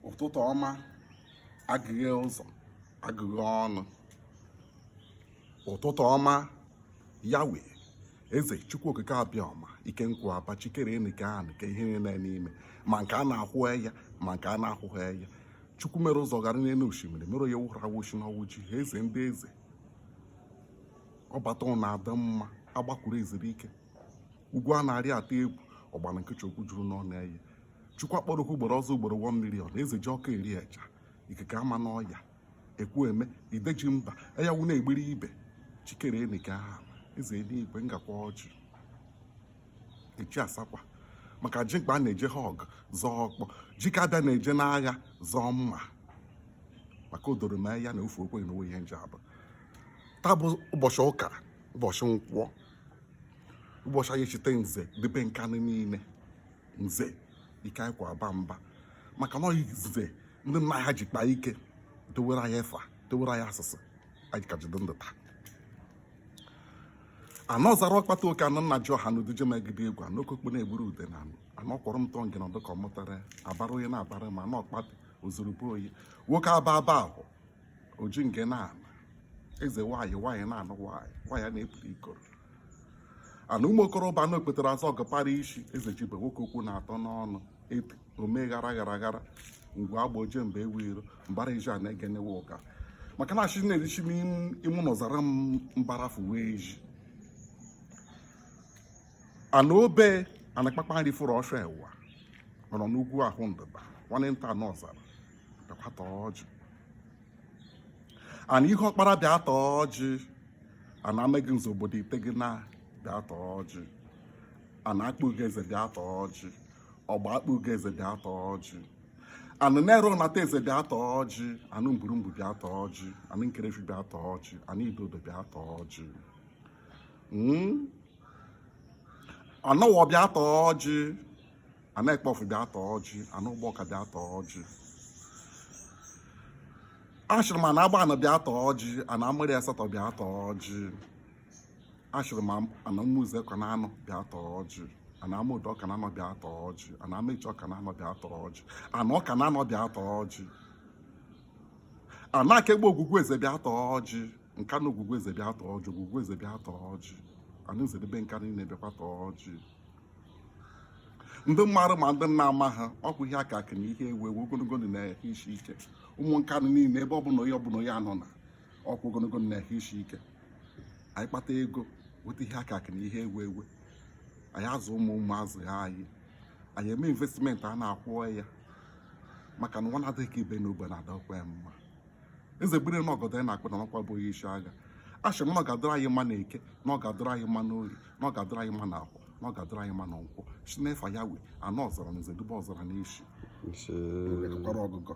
ụtụtụ ọma agụghee ụzọ agụghee ọnụ ụtụtụ ọma yawe eze chukwu okike abịama ike nkwa aba chi kere enu kee anị kee ihe niile n'ime ma nke a na-ahụ enya ma nke a na-ahụghị enya chukwu mere ụzọ gara n'enu oshimiri mere onye wụrụ awụchi na ọ wụ gị eze ndị eze ọbata ụnọ adị mma agbakwuru ezuru ike ugwu a na-arị atụ egwu ọgbara nkịchị okwu juru n'ọnụ eye chukwu akpọrọ oku ugboro ọzọ ugboro one million eze ji ọkụ eri eja ikike ama n'ọya ekwu eme ide ji mba enyanwụ na-egbiri ibe chi kere enu kee anị eze enigwe ngakwa ọjị echi asakwa maka jike aba na-eje ha ọgụ zọọ ọkpọ jike aba na-eje n'agha zọọ mma maka o doro m enya na ofe okweghị na onwe ihe nje abụ taa bụ ụbọchị ụka ụbọchị nkwọ ụbọchị anyị cheta nze debe nkanụ niile nze ike anyị kwa aba mba maka na nze ndị nna ha ji kpaa ike dewere anyị efa dewere anyị asụsụ anyị ka ji dị ndụ taa anị ọzara ọkpata oke anị nna ji ọha n'udije megide egwu anọ okokpo na-egburu ude na anụ anọ kwọrọ m tọ ngị nọdụ ka ọ mụtara abara onye na-abara ma anị ọkpata ozurugbo oyi nwoke aba aba ahụ oji nke na-ana eze nwaanyị nwaanyị na-anụ nwaanyị nwaanyị a na-epụta ikoro ana ụmụ okorobịa na okpetara azọ ọgọpara isi eze jibe nwoke okwu na-atọ n'ọnụ epi omee ghara ghara ghara ngwe agba oje mba enwe iro mbara iji a na-egenewe ụka maka na achị na-erichi m imụ anị ọzara mbarafu wee ji anị obe anakpakpa nri fụrụ ọsọ ewa nọrọ n'ugwu ahụ ndịda nwanne nta anị ọzara bịakwa taa ọjị anị ihuọkpara bịa taa ọjị anị amagụnze obodo ite gị na bịa taa ọjị anị akpugo eze bịa taa ọjị ọgba akpugo eze bịa taa ọjị anị nara unateze bịa taa ọjị anị mburumbu bịa taa ọjị anị nkerefi bịa taa ọjị anị idodo bịa taa ọjị anị owo bịa taa ọjị anị akpọfụ bịa taa ọjị anị ụgbọka bịa taa ọjị ashịrị m anị agbanị bịa taa ọjị anị amụrị asatọ bịa taa ọjị ashịrị m anị ụmụeze ọkụnanọ bịa taa ọjị anị amọdụ ọkụnanọ bịa taa ọjị anị amechi ọkụnanọ bịa taa ọjị anị ọkụnanọ bịa taa ọjị anị akegbe ogwugwu eze bịa taa ọjị nkanụ ogwugwu eze bịa taa ọjị ogwugwu eze bịa taa ọjị anị nze debe nkanụ niile bịakwa taa ọjị ndị mmadụ ma ndị nna ama ha ọkwa ihe akụ akụ na ihe enwe enwe ogologo ndụ na ehụ isi ike ụmụ Nkanụ niile ebe ọbụla onye ọbụla onye anọ na ọkwa ogologo ndụ na ehụ isi ike anyị kpata ego weta ihe akụ akụ na ihe enwe enwe anyị azụ ụmụ ụmụ azụ ha anyị anyị eme investment a na-akwụ ya maka na nwa na-adịghị ka ibe na ogbe na-adịkwa ya mma eze gbere na ọgọdọ ya na-akpụ n'anị ọkwa bụ onye isi agha asị m na ọ ga-adịrị anyị mma na Eke na ọ ga-adịrị anyị mma na Orie na ọ ga-adịrị anyị mma na Afọ na ọ ga-adịrị anyị mma na Nkwọ si n'efa ya wee anọ ọzara na eze dube ọzara na isi Ise. kwara ọgụgọ